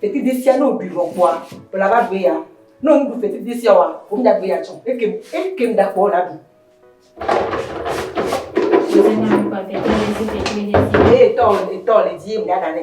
Fetridetsi sia, ne wòɖui vɔ kpɔa, wòle abe agbeya. Ne wòmeɖu fetridetsi sia oa, wòmenye agbeya tsɛ o. Eke, ekem ɖa kpɔ wòle aɖu. Ye etɔ, etɔ le edzi ye ŋɖa ɖa nɛ.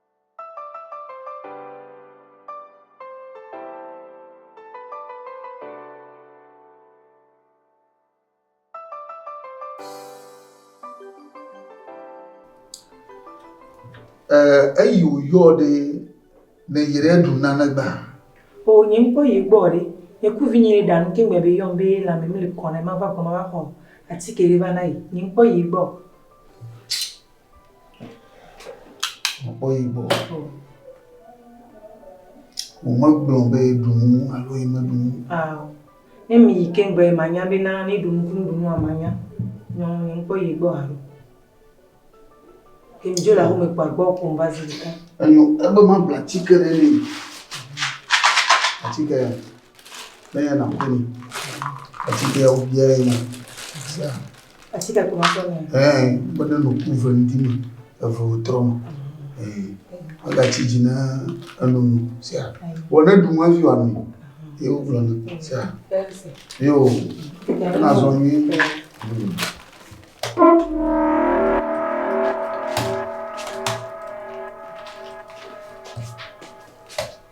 eyi wòyɔ ɖe ne yi ɖe ɖu nane gba. O nye ŋkpɔ yi gbɔ ɖe, nye ku vi nyi ɖe ɖanu ke ŋgbɛ be yɔm be la me mele kɔ ne ma va gbɔ ma va xɔ atike ɖe va na yi. Nye ŋkpɔ yi gbɔ. Mekpɔ yibɔ. Womegblɔ be ɖu nu alo yi meɖu nu. Ao. Ne mi yi keŋ be manya be na ne ɖu nu kunu ɖu nua manya. Nyɔ ne mkpɔ yi gbɔ alo. Ke mi dzo la home kpa gbɔ ko mba zi ɖeka. Enyo ebe ma bla tike ɖe ne. Atike ya. Menye nàkpɔ ni. Atike ya wobia ye nya. Atike kpɔ makpɔ ni. Ɛɛ, be ne nòku ve ŋdi me, eve wòtrɔ me. Ɛɛ, megatsi dzi na enu nu. Sia. Vɔ ne ɖu nu hafi wòanɔ. Ye wogblɔ nɛ. Sia. Yo. Be nazɔ nyuie. Hmm.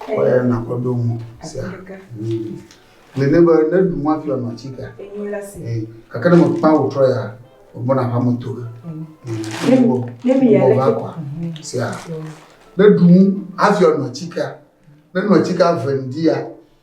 Kɔyɛ na kɔ do mu sia. Le ne be ne du mu afia ma ci ka. Eh, kaka ne mo pa o tro ya. O mo na pa mo to. Ne mo ne mi ya le kwa. Sia. Ne du mu afia ma ci ka. Ne no ci ka vendia.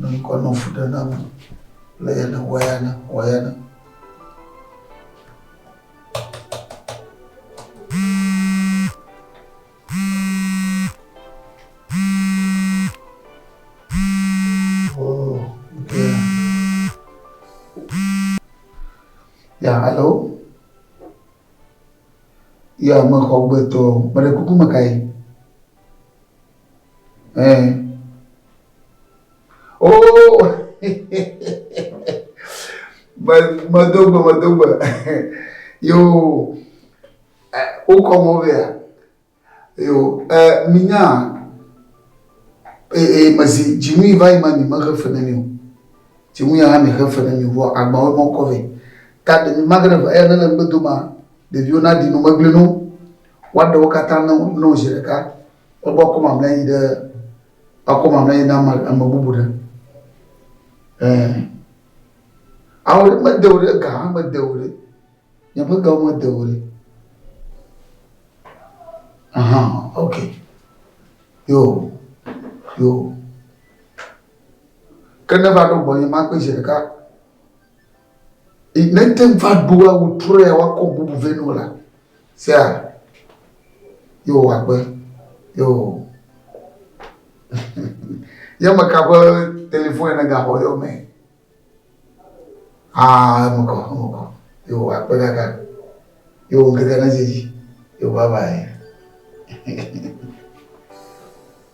Nɔ ŋkɔ nɔ fu ɖe na bu. Le ya na wa ya na wa ya na. Ya, alo? Ya, mexɔ gbetɔ, mele kuku me ka ye? Eh. Oh! medo gbe, medo gbe. Yo, wokɔ mɔ vea. Yo, minya, ee, mezi, dzinui va yi ma mi mexe fe ne mi o. Dzinui ya mi xe fe ne mi vɔ agbawo mɔ kɔ vɛ. Ta de mi magre va ya ne le gbedo ma, ɖeviwo na di no megble no. Wa ɖewo katã no no zi ɖeka. Egbɔ akɔmamlɛ yi ɖe akɔmamlɛ yi na ame bubu ɖe. Ɛɛ. Awo ɖe mede o ɖe ga hã mede o ɖe. Nyeƒe gawo mede o ɖe. Aha, ok. Yo, yo. Ke ne va ɖo gbɔnye ma kpɔe zi ɖeka. I nete ŋu va ɖo awu trɔea woakɔ bubu vɛ no la, sea yo wòagbe yo. Ye ame ka ƒe telefon ene gaxɔ yɔ mɛ? Aa eme kɔ eme kɔ yo wòakpe kaka yo ŋkeke ne dzedzi yo baba ye.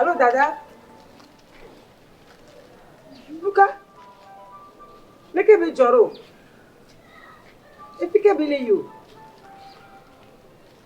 Alo dada, nuka? Leke be dzɔ ɖo? Efi ke be le yi o.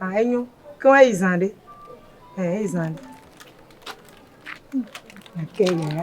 Ah enyo. Ke wo eyi zã ɖe. Eh eyi zã ɖe. Ake yi yaya.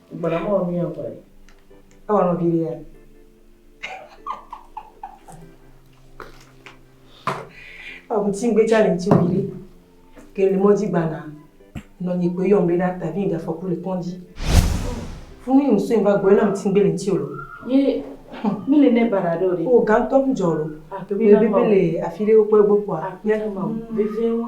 Gbɔna mɔ wɔ miyɔ kɔe. Ewɔ nɔ viɖe ya. Ewɔ kuti ŋgbe tsa le ŋuti viɖe. Ke le mɔdzi gbana. Nɔ nyi kpoe yɔm be na ta vi gafɔku le kɔndzi. Funu yi ŋsɔe va gbɔe na ŋuti ŋgbe le ŋuti o. Ye mi le ne bara ɖo ɖe. O gantɔ mi jɔ lo. Bebe le afi ɖe wokpɔ egbɔ kpɔa. Akpena ma. Bebe wo.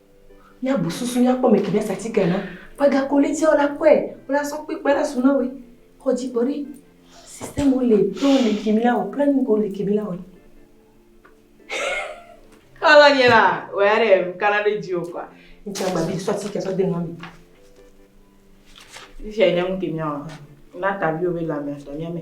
Míabu susu míakpɔ mɛ ki ɖe satika na. Paga kolitiawo la kɔe wla sɔ kpe kpe la su na we. Xɔ dzi kpɔ ɖi. System wo le to le ki mi la o planning ko le ki mi la o. Kala nye la, wa ya ɖe mi kala ɖe dzi o kwa. Ntsa gba bi sɔ satika sɔ de nua mi. Ifia nye mu ke mi o. Na ta bi o be la mi atɔ nya me.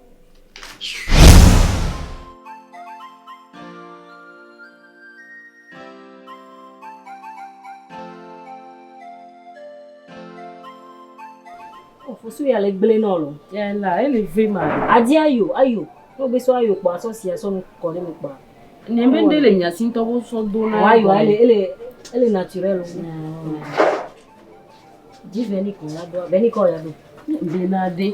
Ofusu ya le gblẽ nɔ lo. Ya la, ele ve ma. Adi ayo, ayo. Wo be so ayo kpa so si aso nu kɔ ne me kpa. Ne me de le nya sin to wo so do na. Wa yo ele ele ele naturel wo. Di veni ko la do, veni ko ya do. Be na de.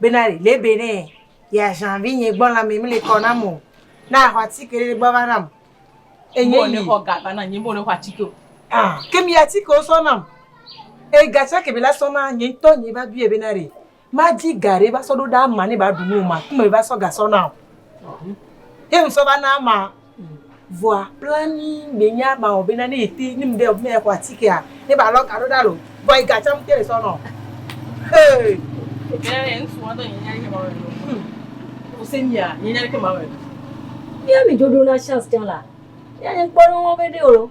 bena ɖe be ne yeaʒan vinye gbɔ la me mele kɔ nam o, ne axɔ atike ɖe gbɔ va nam. Enye Bo yi. nexɔ ga va na nye, bo nexɔ atike o. Ah, ke mi atikewo sɔ nam. E ga tsake be la sɔ na nye ŋutɔ nye va biɔe bena ɖe madi ga ɖe va sɔ ɖo ɖe ama ne ba ɖu nu o ma kume va sɔ ga sɔ na o. Ye ŋsɔ va na ama. Vɔa blanui gbenye ama wɔ bena ne yete nim ɖe ɔbina ya xɔ atikea ne ba lɔ ga ɖo ɖa lo vɔa yi ga tsam te sɔ nɔ hey. Nya ɖe ŋsu wa dɔ nye nya ɖe ma wɔ lo. Hmm. Ose mia nye nya ɖe ma wɔ lo. Mia mi dodo na chance tsã la. Mia nye kpɔ ɖe wo be ɖe o lo.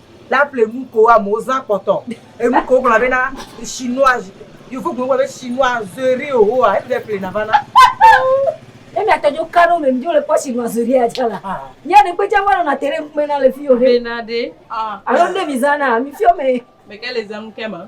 la ple nu ko amewo zã kpɔtɔ. Enu ke wogblɔna bena chinois yevu gblɔ be chinoiserie oa eƒle eƒle na va na. Ne mia tɔ dzo kano me dzo le kpɔ chinoiserie ya tsa la. Mia ɖe gbedza va nɔna te ɖe ŋkume na le fi o ɖe. Bena ɖe. Alo ne mi zã na mi fiɔ me. Meke le zã nu ke ma.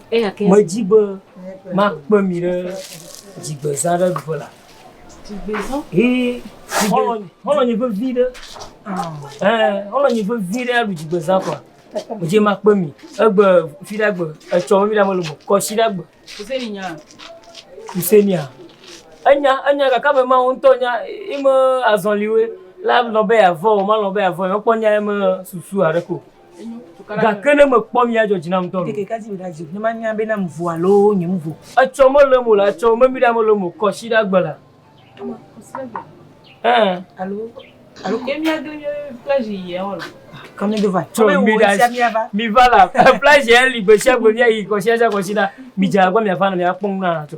Medi be makpe mi ɖe dzigbezã ɖe ɖuƒe la. Dzigbezã? Ee, xɔlɔnye, xɔlɔnye vevi ɖe. Ee, xɔlɔnye vevi ɖe aɖu dzigbezã kɔa. Medzi makpe mi. Egbe fi ɖe agbe, etsɔ mi ɖe amele mo, kɔsi ɖe agbe. Kuseni nya. Kuseni a. Enya, enya kaka me ma wo ŋutɔ nya, ime azɔliwe la lɔ be avɔ, ma lɔ be avɔ, ekpɔ nya eme susu aɖe ko. Gake ne mekpɔ mia dzɔ dzi nam dɔlo. Ne manya be nam vo alo nyem vo. Etsɔ mele mo la etsɔ memi ɖa mele mo kɔ si ɖa gbe la. Alo alo ke mia do nye plage yi ya wala. Kame do va. Kame wo sia mia va. Mi va la plage ya li gbe sia gbe mia yi kɔ si ɖa kɔ si ɖa mi dza gba mia va na mia kpɔ nu na tɔ.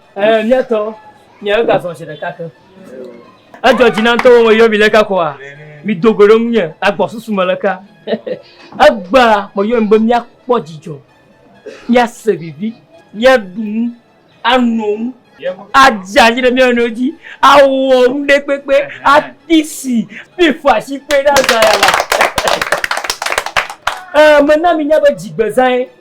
Ɛɛ, míatɔ, míawo ga zɔn zi ɖeka ke. Edzɔ dzi na ŋutɔ be meyɔ mi leka koa? Mido go ɖe ŋunye le agbɔsusu me leka. Egbea meyɔ mi be míakpɔ dzidzɔ, míase vivi, míaɖu nu, ano nu, adze anyi ɖe mía nɔewo dzi, awɔ nu ɖe kpekpe, ati si, kple fɔ asi kpe ɖa zã yama. Ɛɛ, mena minya be dzigbezãe.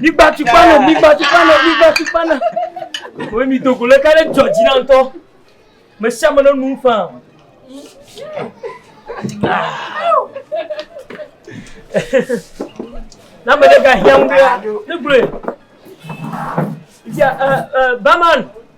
Migba tukpa na, migba tukpa na, migba tukpa na. Wo mi dogo le ka ɖe dzɔ dzi na ŋutɔ. Me sia me ne nu fa. Na me ɖe ga hiã ŋu ɖe, ne gblɔe. Bia, uh, uh, Baman.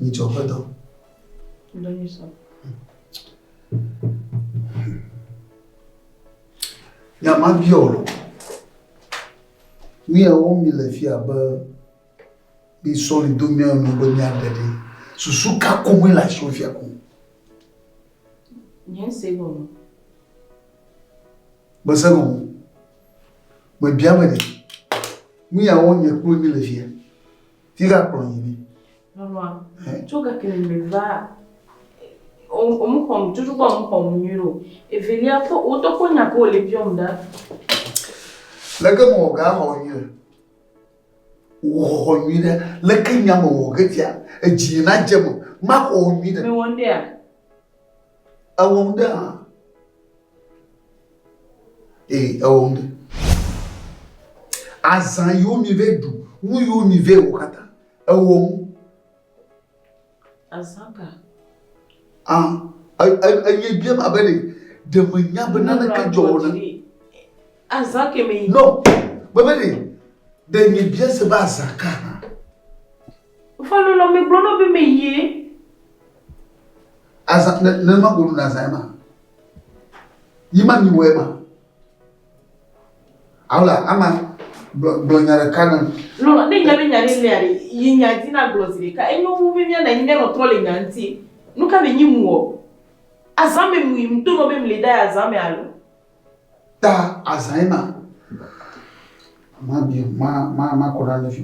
Nyitsɔ ƒe dɔ. Dɔ nyitsɔ. Ya ma biɔ o. Míawo mi le fia be mi sɔli do míawo nu be mía ɖe ɖi. Susu ka ko mi le asi fia ko. Nye se gɔme. Gbese gɔme. Mebia me ɖi. Míawo nye kplu mi le fia. Fika kplɔ yi ni. Nɔnɔa, tso gake le me va omu xɔm, tutu kpɔ omu xɔm nyuie o. Evelia kpɔ, wotɔ kpɔ nya ko le biɔm da. Leke mo wɔ ga xɔ nyuie? Wò xɔxɔ nyuie ɖe, leke nya mo wɔ getia? Edzi na dze mo, ma xɔ nyuie ɖe. Me wɔ ndea? Ewɔ nu ɖe hã. Ee, ewɔ nu ɖe. Azã yiwo mive ɖu, nu yiwo mive wɔ katã, ewɔ nu. Azã ka? Ah, eye bia ma be ɖe menya be naneke dzɔ wɔ na. Azã ke me. No, bebe ɖe ɖe nye bia se be azã ka hã. Fa nu lɔ megblɔ nɔ be me yie. Azã ne ne ma gonu na zãe ma. Yi ma mi wɔe ma. Aula ama gblɔ gblɔ nya ɖeka ne. Lɔlɔ ne nya be nya ɖe lea ɖe yi nya di na gblɔ zi ɖeka enyo wu be mia na nyi mia nɔ trɔ le nya ŋti. Nuka me nyi muɔ? Azã me mui mdo nɔ be mle da ya azã me alo? ta azãe na. Mabi ma ma makɔ na ne fi.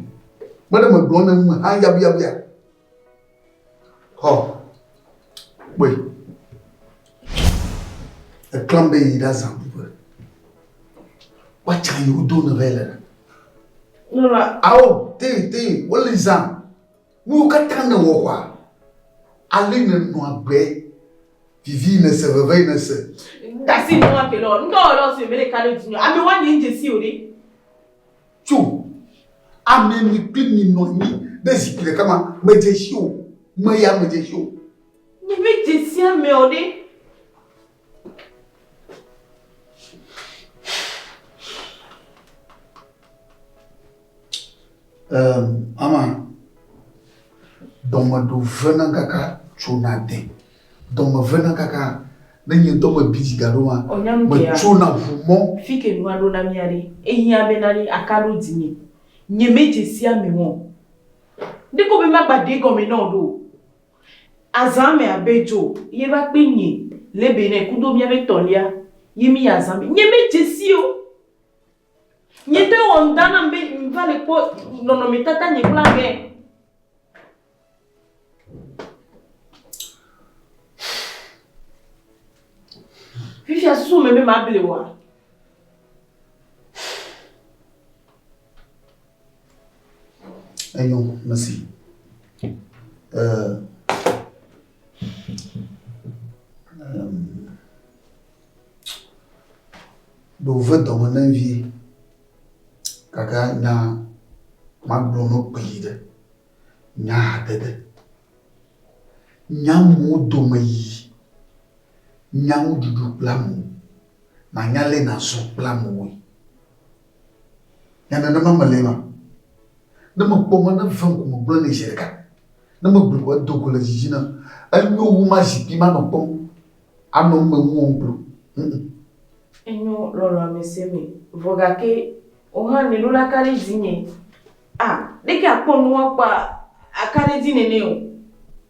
Mele megblɔ ne me ha yabuyabuya. Hɔ. Kpɔe. Eklam be yi ɖa zã ƒe. Woatsa yi wodo ne vɛ le. Nora. Awo te te wole zã. Nuwo katã nèwɔ xɔa? Ale nènɔ agbe? Vivi nèse, veve nèse. Dasi nɔ wa ke lɔ. Ŋdɔ wɔ lɔ sue mele kale dzi nyo. Ame wa nye ŋdje si o ɖe. Tso ame mi kpli mi nɔ anyi ɖe zikpui ɖeka ma medje si o. Meya medje si o. Nye me dje si ame o ɖe. Um, ama, dɔme ɖo vena kaka tsona de. Dɔme vena kaka ne nye dɔme bi dzi gaɖo ma. Metsona ʋu mɔ. Fi ke nua ɖo na mia ɖe. Ehiã be na ɖe aka ɖo dzi mi. Nye me dze sia me mɔ. Ne ko be magba ɖe gɔme na o ɖo. Azã me abe dzo ye va kpe nye le be ne kudo mía be tɔlia ye mi azã me nye me dze si o. Nye te wɔ ŋda nam be ŋva le kpɔ nɔnɔ me tata nye kple ame. Fifia susu me be ma ble wa. Enyo, mesi. Eh, um, ɖo ve dɔme ne vie, gake nya magblɔ no kpeli ɖe, nya haɖe ɖe. Nyamuwo dome yi, nyawo ɖuɖu kple amewo, nanya le nazɔ kple amewoe. Nya nenema melee ma. Ne mekpɔ mɔ ne vem ko megblɔe nɛ zi ɖeka. Ne megblɔe ko edo go le dzi dzi nam. Enyo wu mazi kpi manɔ kpɔm anɔ nu me ŋuwɔm kpli o. Ŋ-ŋ. Enyo lɔlɔ amɛsɛ mɛ. Vɔ gake wohã nɛɖo la kaɖi dzi nyɛ. A, ɖeke akpɔ nu woakpɔ akaɖi dzi nɛnɛ o.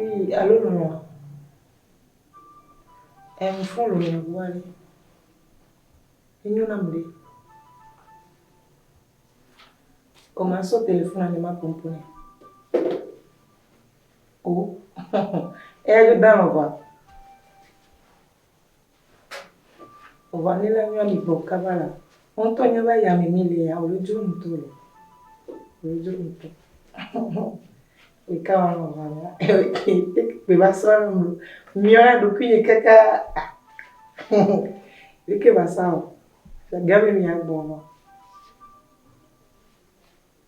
Ii, alo lɔlɔ̃a? Ɛɛ, ŋfɔn lɔlɔ̃ ŋu ale. Enyo nam ɖe. Ko masɔ telefona ne maƒo nuƒo nɛ. o. Eya dzo da lɔn va. Vɔa ne la nyɔa mi gbɔ kaba la. Wọn tɔ nye va ya mi mi le ya o le dzro ŋutɔ le. O le dzro ŋutɔ. E ka wa lɔn va la. Pe va sɔ la mu. Miɔ ya ɖo kuyi kaka. E ke va sa o. Gami mi ya gbɔ lɔ.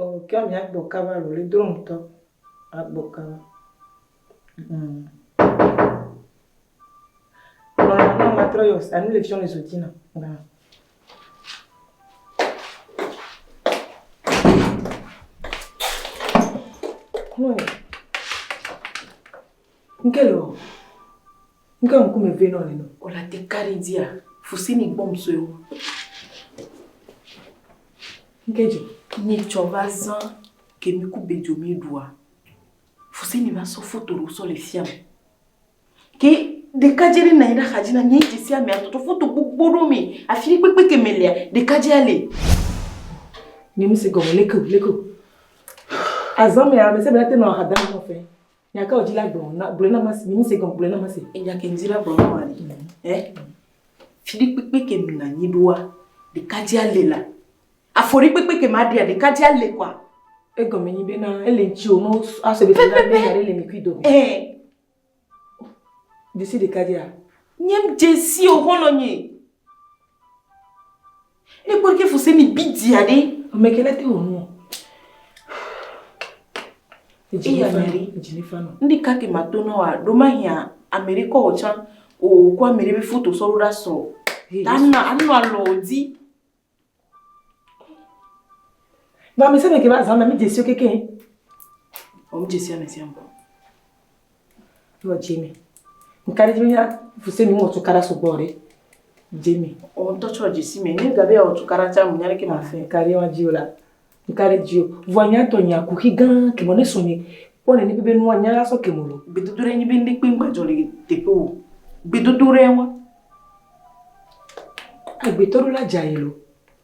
Oh kea mia gbɔ kaba lo li dro ŋutɔ agbɔ kaba mm. Nɔnɔ nɔ ma trɔ yɔ anu le fiɔ le zo dzi na na. Nkelo. Ŋke ŋkume vɛ nɔ neno. Ola te kari dia fusini gbɔm soeo. Ŋke dzi. Mi tsɔ va zan ke mi ku bedzo mi ɖua. Fusini va sɔ foto ɖewo sɔ le fiam. Ke ɖeka dze ɖe nanyi ɖe axadzi na mi dzi sia mia toto foto gbogbo ɖo mi afi kpekpe ke me lea ɖeka dze ale. Nye mi se gɔme lekeo lekeo. Azan mea me se be la te nɔ ahada nɔ fe. Nya ka wòdzi la gblɔ na gblɔ na ma si mi se gɔm gblɔ na ma si. Enya ke ŋdi la gblɔ na ma ni. Ɛ fiɖi kpekpe ke mi na nyi ɖoa ɖeka dzi ale la. Afɔɖi kpekpe ke ma ɖia ɖeka dzi ale kwa. Egɔme nyi be na ele ŋtsi o no asɔ be na be yare le mi kui do. Ɛ. Disi ɖeka dzi a. Nyem desi o hɔlɔ nyi. Ne kpɔ ke fuse mi bi dia ɖe. Ame ke la te wɔ nuɔ. Eya meri. Ndi ka te ma to na wa ɖo ma hia ameri kɔ wɔ tsa. O kɔ ameri be foto sɔ ɖo ɖa sɔ. Ta na anu alɔ di. Ba mi se me ke ba zan na mi jesio keke. O mi jesio ame sia mo. Yɔ Jimmy. Nka ɖe Jimmy ya fuse mi ŋɔ tukara sugbɔ ɖe. Jimmy. O ŋtɔ tsɔ jesi me. Ne gabe ya tukara tsa mu nyare ke ma fe. Nka ɖe wa jio la. Nka ɖe jio. Vua nya tɔ nya kuxi gã ke mo ne sonye. Kpɔ ne ni bebe nua nya la so ke mo lo. Gbedodo ɖe nyi be ndi kpe ngba jɔ le teƒe o. Gbedodo ɖe wa. Agbetɔ ɖo la dza yi lo.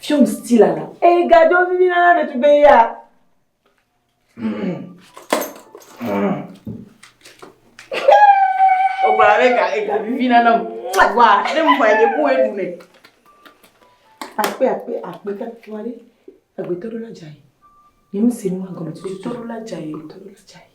Film stila la. Eyi gadzo vivi na na ɖetugbee ya. Ogba ɖe ga ega vivi na na o. Wa ne mu ma ye ku edu ne. Akpe akpe akpe ka tuwa ɖe. Agbetɔ ɖo la dza yi. Ni mu se nu agɔme tutu. Agbetɔ ɖo la dza yi. Agbetɔ ɖo la dza yi.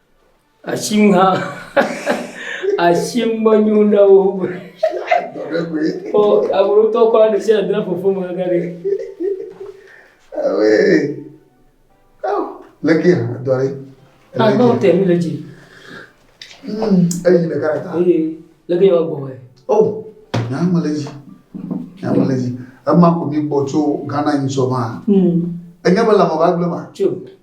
Asim hã, asim menyo na wo. Ɔ, aburutɔ kɔ ɖe sia ɖe fofo me ga ɖe. Awe. Aw, leke ha dɔ ɖe. Agba o tɛ mi le dzi. Hmm, eyi le gara ta. Ee, leke yɔ gbɔ wɛ. Oh, na me le dzi. Na me le dzi. Ema ko mi gbɔ tso Ghana yin so ma. Hmm. Enye be la mo ba gble ma. Tso.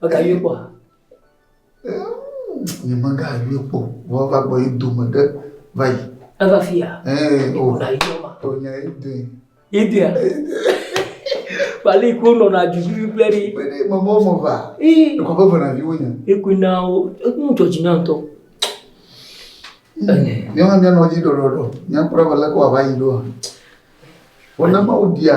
Megayɔe kpɔ ha. Nye megayɔe kpɔ. Vɔ va gbɔ yi dome ɖe va yi. Eva fi ya. Ee o. Ƒona yi dɔ ma. O nya yi dɔe. Yi dɔe. Bali ko nɔna dudui kple ɖi. Kpe ɖe mama wo me va. Ee. Ekɔ ƒe vena viwo nya. Ekui na wo. Ekun jɔ dzi na ŋutɔ. Míawo hã míanɔ dzi ɖɔɖɔɖɔ. Míakpɔ ɖa be leke wòava yi ɖoa. Vɔ ne Mawu ɖia.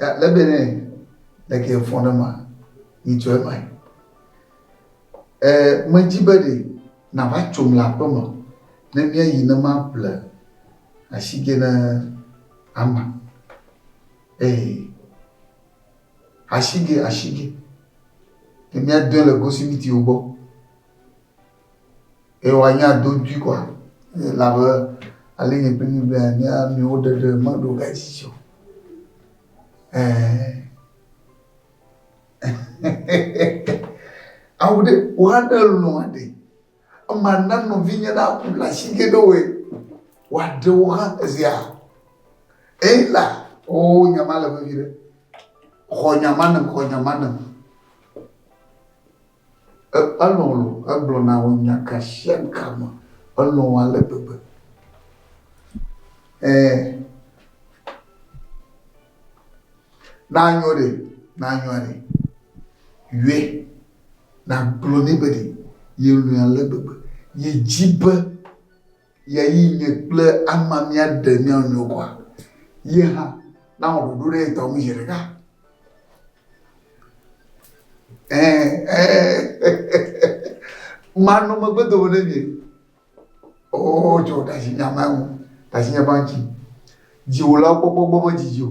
Ya lebe ne leke fɔ ne ma ni tso ema. Eh me dzi be ɖe na va tso mla aƒe me ne mia yi ne ma ƒle ashige ne ama. Eh ashige ashige ne mia dɔe le gosimiti wo gbɔ. eye woanya do dui kɔa elabe ale nye kple mi be anya amewo ɖeɖe meɖo ga dzidzɔ ɛɛ awu ɖe woha ɖe lɔ aɖe ema na nɔvi nye na ku la si ge ɖe woe woaɖe wo hã ezia eyi la o oh, nyama le vevi ɖe xɔ nyama ne xɔ nyama ne Elɔ̃ loo, egblɔ na wo nya ka sia ka me. Elɔ̃ wo ale gbegbe. Ẽ, ne anyo ɖe, ne anyoa ɖe, yɔe, nagblɔ nɛ be ɖe yelɔ̃e ale gbegbe, yedi be. Ye yi nye kple ama míaɖe mía nɔewo kɔa? Ye hã nawɔ ɖoɖo ɖe etɔ ŋu zeɖeka? Ẽ, ẽ, manɔ megbe dome ne mie. Oo, tsɔ ɖe asi nya ma ŋu, ɖe asi nya ma ŋuti. Dziwòlawo kpɔkpɔ gbɔ medidi o.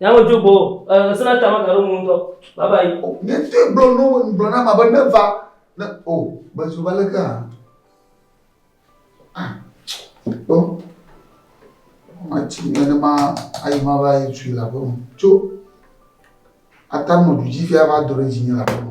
Nyawo dzo gbɔ o. E, ŋsẽ na ta magaɖo ŋu ŋutɔ. Bye bye. O, nye ŋutɔe gblɔ nu be ŋgblɔ na ama be neva ne o, mezu va leke hã. Ah, kpɔ. Mati nenema ayi ma va yi tsui le aƒe me. Tso. Ata nɔ du dzi fia va do ɖe dzinye le aƒe me.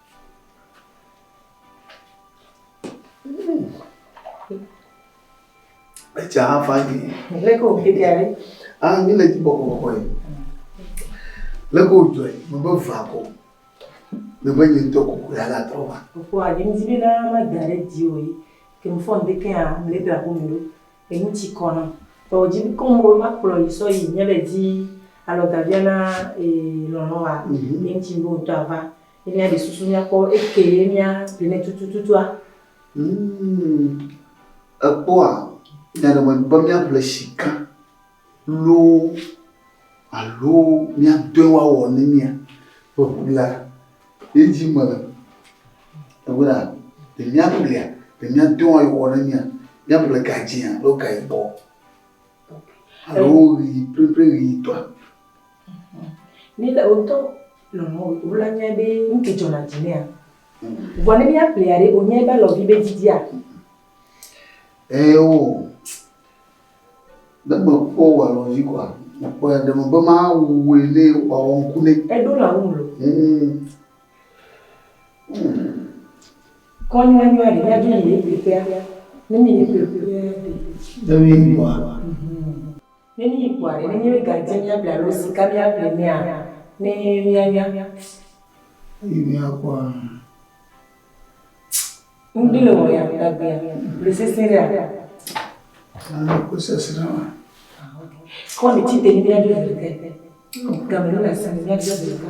Etsa afa gị. Leke o kete ale. Ah, ni le jibo ko ko ye. Leke o joy, mo be va ko. Me be nyi to ko ko ya la tro ba. Ko a je mi jibe na ma dare di o yi. Ke mo fon de ke a me le tra ko me do. E mu ti ko na. To o jibe ko mo ma klo yi so yi nye be di. Alo gavia na e lono wa. Ni ti bo to ava. ye mía ɖe susu mía kpɔ eke ye mía ɖe nɛ tutututua. Hmm, ekpɔa nya ɖe me be mía ƒle shika loo alo mía dɔe wa wɔ ne mía ƒe ʋu la ye dzi me le. Ewe la, ɖe mía ƒlea, ɖe mía dɔe wa ye wɔ ne mía, mía ƒle ga dzea alo ga yibɔ alo ɣi plepleɣi tɔa. Ni le wotɔ lɔlɔ wula nya be nu ke dzɔ na dzi nea. Vɔ ne mia plia ɖe onya be alɔ vi be didia. Eo ne me kpɔ wa lɔ vi kɔa me kpɔ ya ɖe me be ma wue ne wa wɔ ŋku ne. Eɖo la ŋu lo. Kɔn wa nyua ɖe mia do yi le ƒea ne mi ne ƒea ɖe. Ne mi nyua. Ne míyi kpɔa ɖe, nenye míegadi míaƒle alo sika míaƒle nɛa, ne míanya. Eyi míakpɔa, tss. Ŋdi le wɔ ya tagbea, le sesẽ ɖea? Aa, ko sesẽ wa. Ah, ok. Kɔ ne tsi te ne míaɖo veve ke. Game ne le asi ne míaɖo veve ke.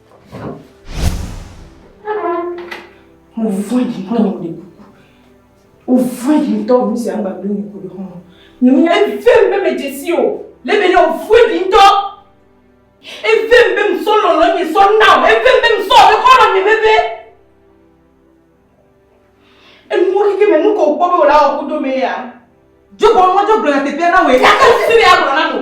Mo vɔ̃ yi ŋutɔ mo ɖe kuku. Mo vɔ̃ yi ŋutɔ nu sia ŋgba ɖo mi ko ɖe xɔme. Nye me nya ebi fem be me dzesi o. Le be ne o vɔ̃ yi ŋutɔ. E fem be me sɔ lɔlɔ nye sɔ na o. E fem be me sɔ be xɔlɔ nye me be. E nu wo kike me nu ko kpɔ be o la o kudo me ya. Dzogbɔ nwa dzogbɔ na te te na we. Ya ka si se ne ya gblɔ na mo.